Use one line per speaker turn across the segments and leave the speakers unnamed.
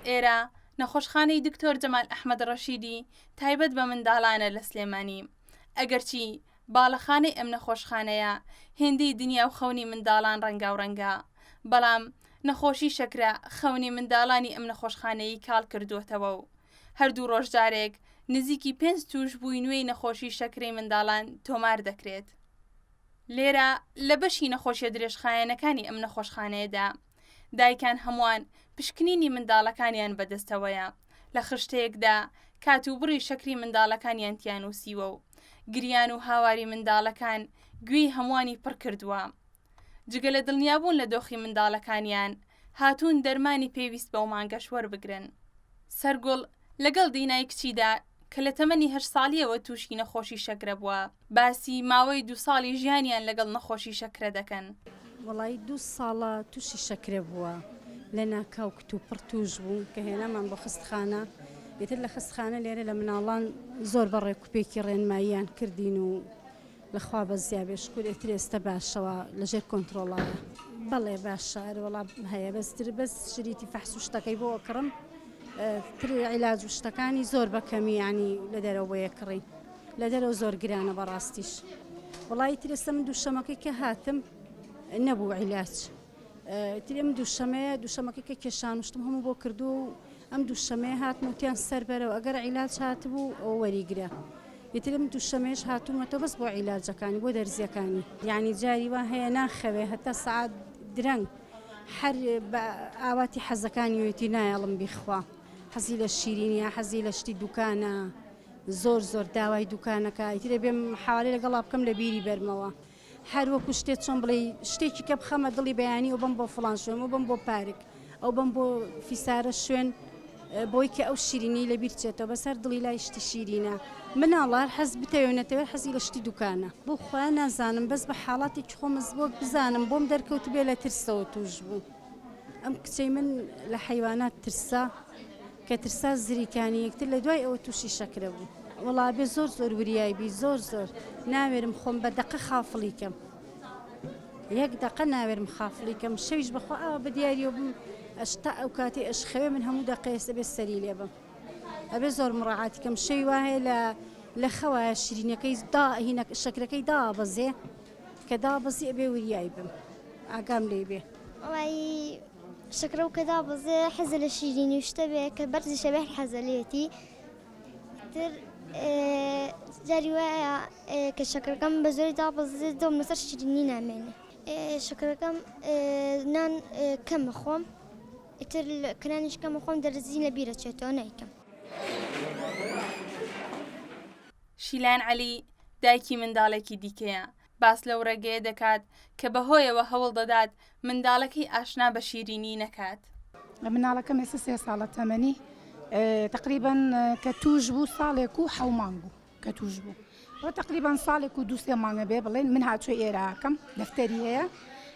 ئێرە نەخۆشخانەی دکتۆر جەمال ئەحمەد ڕەشیدی تایبەت بە منداڵانە لە سلێمانی ئەگەرچی باڵەخانەی ئەم نەخۆشخانەیە هێندەی دنیا و خەونی منداڵان ڕەنگاو ڕەنگە بەڵام نەخۆشی شەکرە خەونی منداڵانی ئەم نەخۆشخانەیی کاڵ کردووەتەوە و هەردوو ڕۆژجارێک نزیکی پێنج توش بووی نوێی نەخۆشی شەکرەی منداڵان تۆمار دەکرێت لێرە لە بەشی نەخۆشیە درێژخایەنەکانی ئەم نەخۆشخانەیەدا دایکان هەمووان پشکنینی منداڵەکانیان بەدەستەوەیە لە خشتەیەکدا کات و بڕی شەکری منداڵەکانیان تیانوسیوە و گریان و هاواری منداڵەکان گوێی هەمووانی پڕ کردووە جگە لە دڵنیابوون لە دۆخی منداڵەکانیان هاتوون دەرمانی پێویست بەو مانگەش وەربگرن سەرگوڵ لەگەڵ دینای کچیدا کە لە تەمەنی هەشت ساڵییەوە تووشی نەخۆشی شەکرە بووە، باسی ماوەی دوو ساڵی ژیانیان لەگەڵ نەخۆشی شەکرە دەکەن. وەڵایی دوو
ساڵە تووشی شەکرە بووە، لە ناکاو کتوپڕ تووش بوو کە هێنامان بۆ خەستخانە، ئیتر لە خەستخانە لێرە لە مناڵان زۆر بە ڕێکوپێکی ڕێنماییان کردین و لە خوا بەزیا بێ شکور ئێتر ئێستە باشە وا لە ژێر کۆنترۆڵە. بەڵێ باشە ئەرێ وەڵا هەیە بەس تر بەس شریتی فەحس و شتەکەی بۆ ئەکڕم تر عیلاج و شتەکانی زۆر بە کەمی یانی لە دەرەوە بۆ یەکڕین لە دەرەوە زۆر گرانە بەڕاستیش وەڵای تر ئێستە من دووشەمەکەی کە هاتم نەبوو عیلاج. ئیتر ئەم دووشەمەیە دووشەمەکەی کە کێشان و شتم هەموو بۆ کردووە و ئەم دووشەمەیە هاتم و تیان سەربەرەوە ئەگەر عیلاج هاتبوو ئەو وەریگرە یترم دووشەمێش هاتوومەتە بەس بۆ عیلاجەکانی بۆ دەرزیەکانی یعنی جاری وا هەیە ناخەوێ هەتا سعات درەنگ هەر بە ئاواتی حەزەکانی وێتی نایەڵم بیخوا حەزی لە شیرینە حەزی لە شتی دوکانە زۆر زۆر داوای دوکانەکە ئیترێ بێم حوالی لەگەڵا بکەم لە بیری بەرمەوە هەر وەکوو شتێ چۆن بڵێی شتێکی کە بخەمە دڵی بەیانی و بم بۆ فڵان شوێن و بم بۆ پارک ئەو بم بۆ فیسارە شوێن بۆی کە ئەو شیرینی لە بیرچێتەوە بەسەر دڵی لای شتی شیرینە مناڵار حەز بتەوێ نەتەوێ حەزی لە شتی دوکانە بۆ خوا نازانم بەس بە حاڵاتێکی خۆمز بۆ بزانم بۆم دەرکەوت بێ لە ترسەوە توش بوو ئەم کچەی من لە حیوانات ترسا کە ترسا زری کانی یەکتر لە دوای ئەوە توشی شەکرە بوو. وەڵا ئەبێ زۆر زۆر وریای بی زۆر زۆر ناوێرم خۆم بە دەقە خافڵی کەم یەک دەقە ناوێرم خافڵی کەم شەویش بەخوا ئاوا بە دیاریەوە بم ئەش تا ئەو کاتی ئەش خەوێ من هەموو دەقێس ئەبێ سەری لێ بم ئەبێ زۆر مڕاعاتی کەم شەوی وایە لە لە خەوایە شیرینەکەی دا هینە شەکرەکەی دابەزێ کە دابەزی ئەبێ وریای بم ئاگام لێ بێ وڵایی
شەکرە و کە دابەزێ حەزە لە شیرینی و شتە بێ کە بەرزیشە بێ هەر حەزە لێتی تر جاری وایە کە شەکرەکەم بە زۆری دابەزێ دۆم لەسەر شیرینی نامێنێ شەکرەکەم نان کەمە خۆم ئیتر کرانیش کەمە خۆم دەرزی لە بیرە چێتەوە نیکەم.
شیلان عەلی دایکی منداڵێکی دیکەیە باس لەو ڕێگەیە دەکات کە بەهۆیەوە هەوڵ دەدات منداڵەکەی ئاشنا بە شیرینی نەکات. مناڵەکەم
ئێستا سێ ساڵە تەمەنی تقریبان کە توش بوو ساڵێک و حەو مانگ بوو کە توش بوو بۆ تقریبان ساڵێک و دوسێ مانگە بێ بڵێن من هاچۆ ئێراکەم دەفتەری هەیە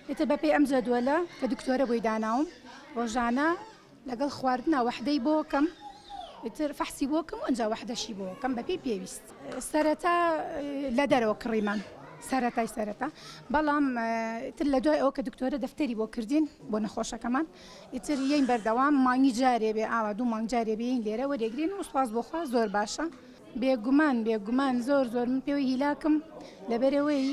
ئێتە بەپێ ئەم جەدوەلە کە دکتۆرە بۆی داناوم ڕۆژانە لەگەڵ خواردنا وەحدەی بۆکەم ئیتر فەحسی بۆکەم و ئەنجا وەحدەشی بۆکەم بەپێی پێویست سەرەتا لە دەرەوە کڕیمان سەرەتای سەرەتا بەڵام تر لە دوای ئەو کە دکتۆرە دەفتەری بۆ کردین بۆ نەخۆشەکەمان ئیتر یین بەردەوام مانگی جارێ بێ ئاوا دوو مانگ جارێ بێین لێرە وەرێگرین و سوپاس بۆخوا زۆر باشە بێگومان بێگومان زۆر زۆر من پێوەی هیلاکم لەبەرەوەی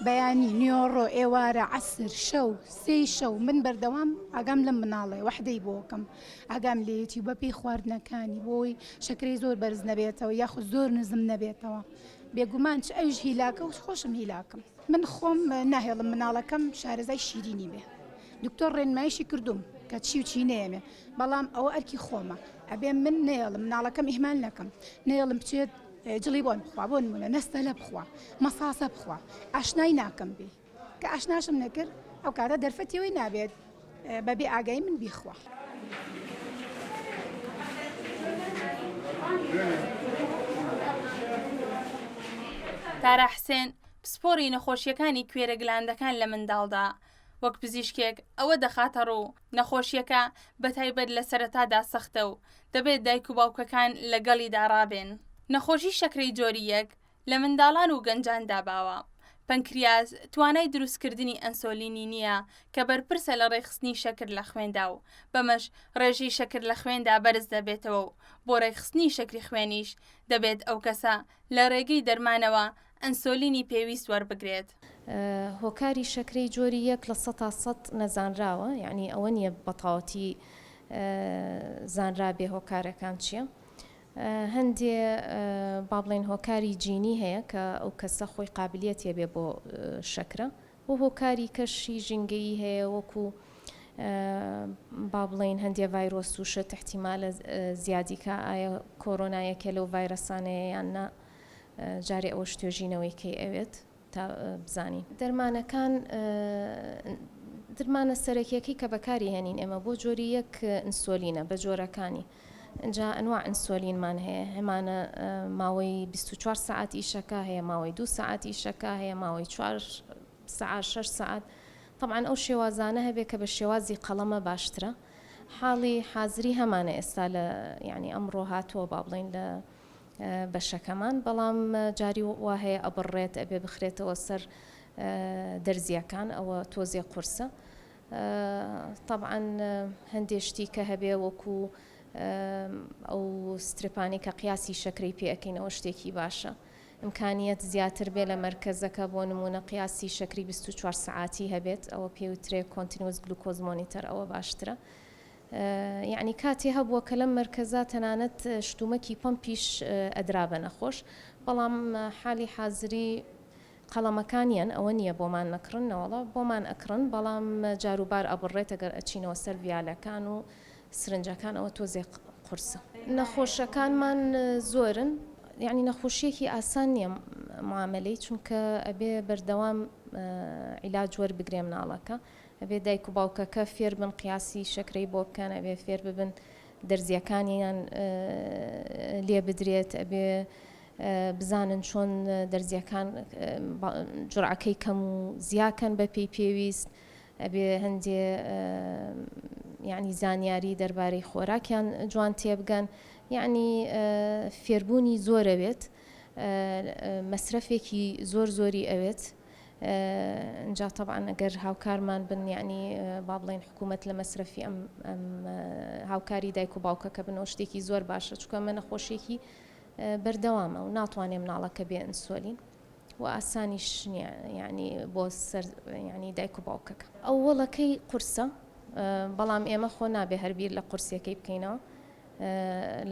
بەیانی نیۆڕۆ ئێوارە عسر شەو سێی شەو من بەردەوام ئاگام لەم مناڵێ وەحدەی بۆکەم ئاگام لێتی بە پێی خواردنەکانی بۆی شەکری زۆر بەرز نەبێتەوە یاخود زۆر نزم نەبێتەوە بێگومان چ ئەوش هیلاکە و خۆشم هیلاکم من خۆم ناهێڵم مناڵەکەم شارەزای شیرینی بێ دکتۆر ڕێنمایشی کردوم کە چی و چی نێمێ بەڵام ئەوە ئەرکی خۆمە ئەبێ من نەیەڵم مناڵەکەم ئیهمال نەکەم نەیەڵم بچێت جڵی بۆن بخوا بۆن منە نەستەلە بخوا مەساسە بخوا ئاشنای ناکەم بێ کە ئاشناشم نەکرد ئەو کارە دەرفەتیەوەی نابێت بەبێ ئاگای من بیخوا.
تارا حسێن، پسپۆڕی نەخۆشییەکانی کوێرە گلاندەکان لە منداڵدا، وەک پزیشکێک ئەوە دەخاتە ڕوو نەخۆشیەکە بەتایبەت لە سەرەتادا سەختە و دەبێت دایک و باوکەکان لەگەڵیدا ڕابێن نەخۆشی شەکرەی جۆری یەک لە منداڵان و گەنجاندا باوە پەنکریاز توانای دروستکردنی ئەنسۆلینی نییە کە بەرپرسە لە ڕێکخستنی شەکر لە خوێندا و بەمەش ڕێژەی شەکر لە خوێندا بەرز دەبێتەوە و بۆ ڕێکخستنی شەکری خوێنیش دەبێت ئەو کەسە لە ڕێگەی دەرمانەوە ئەنسۆلینی پێویست وەربگرێت. هۆکاری
شەکرەی جۆری یەک لە سەتا سەد نەزانراوە، یانی ئەوە نییە بەتاوەتی زانرابێ هۆکارەکان چییە. هەندێ با بڵێن هۆکاری جینی هەیە کە ئەو کەسە خۆی قابلیەت هەبێ بۆ شەکرە، و هۆکاری کەشی ژینگەیی هەیە وەکو با بڵێین هەندێ ڤایرۆس و شت احتیمالە زیادی کا ئایا کۆرۆنا یەکێ لەو ڤایرەسانەیە یان نا جارێ ئەوەش توێژینەوەی کەی ئەوێت تا بزانین دەرمانەکان درمانە سەرەکیەکەی کە بەکاری هێنین ئێمە بۆ جۆری یەک ئینسۆلینە بە جۆرەکانی جا ئەنواع ئینسۆلینمان هەیە هەمانە ماوەی بیست و چوار سەعات ئیشەکا هەیە ماوەی دوو سەعات ئیشەکا هەیە ماوەی چوار سەعات شەش سەعات طبعا ئەو شێوازانە هەبێ کە بە شێوازی قەڵەمە باشترە حاڵی حازری هەمانە ئێستا لە یعنی ئەمڕۆ هاتووە با بڵین لە بەشەکەمان بەڵام جاری وا هەیە ئەبڕێت ئەبێ بخرێتەوە سەر دەرزیەکان ئەوە تۆزێ قورسە تەبعەن هەندێ شتی کە هەبێ وەکو ئەو سترپانی کە قیاسی شەکرەی پێ ئەکەین ئەوە شتێکی باشە ئمکانیت زیاتر بێ لە مەرکەزەکە بۆ نمونە قیاسی شەکری 24 سعاتی هەبێت ئەوە پێوترێ کۆنتنیۆس گلوکۆز مۆنیتەر ئەوە باشترە یعنی کاتی هەبووە کە لەم مەرکەزە تەنانەت شتومەکی پەمپیش ئەدرا بە نەخۆش بەڵام حالی حازری قەڵەمەکانیان ئەوە نیە بۆمان نەکڕن نەوەڵا بۆمان ئەکڕن بەڵام جاروبار ئەبڕێت گەر ئەچینەوە سەر ڤیالەکان و سرنجەکان ئەوە تۆزێ قورسە. نەخۆشەکانمان زۆرن یانی نەخۆشیەکی ئاسان نیە معامەلەی چونکە ئەبێ بەردەوام عیلاج وەربگرێ مناڵەکە ئەبێ دایک و باوکەکە فێربن قیاسی شەکرەی بۆ بکەن ئەبێ فێرببن دەرزیەکانیان لێبدرێت ئەبێ بزانن چۆن دەرزیەکان جورعەکەی کەم و زیا کەن بە پێی پێویست ئەبێ هەندێ یعنی زانیاری دەربارەی خۆراکیان جوان تێبگەن یعنی فێربوونی زۆرەوێت مەسرەفێکی زۆر زۆری ئەوێت جا طبعاان ئەگەر هاوکارمان بن یعنی با بڵێن حکوومەت لە مەسرەفی ئەم هاوکاری دایک و باوکەکە بنەوە شتێکی زۆر باشە چکە منە خۆشێکی بەردەوامە و ناتوانێ مناڵەکە بێ ئەنسۆلین و ئاسانیش نیە یعنی بۆ سەر یعنی دایک و باوکەکە ئەوەڵەکەی قورسە بەڵام ئێمە خۆ نابێ هەربیر لە قورسەکەی بکەینەوە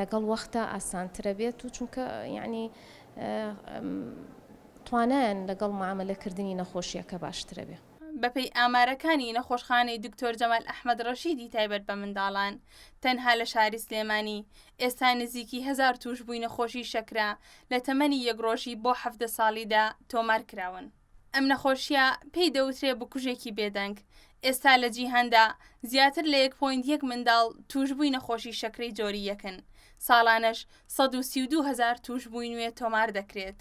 لەگەڵ وەختە ئاسانترە بێت و چونکە یعنی توانایان لەگەڵ معاملەکردنی نەخۆشیەکە باشترە بێ بەپێی ئامارەکانی
نەخۆشخانەی دکتۆر جەمال ئەحمەد ڕەشیدی تایبەت بە منداڵان، تەنها لە شاری سلێمانی، ئێستا نزیکی هەزار تووشبووی نەخۆشیی شەکرە لە تەمەنی یەک ڕۆژی بۆ حەڤدە ساڵیدا تۆمار کراون. ئەم نەخۆشییە پێی دەوترێ بکوژێکی بێدەنگ، ئێستا لە جیهاندا زیاتر لە یەک پۆینت یەک منداڵ تووشبووی نەخۆشیی شەکرەی جۆری یەکن، ساڵانەش سەد و سی و دوو هەزار تووشبووی نوێ تۆمار دەکرێت.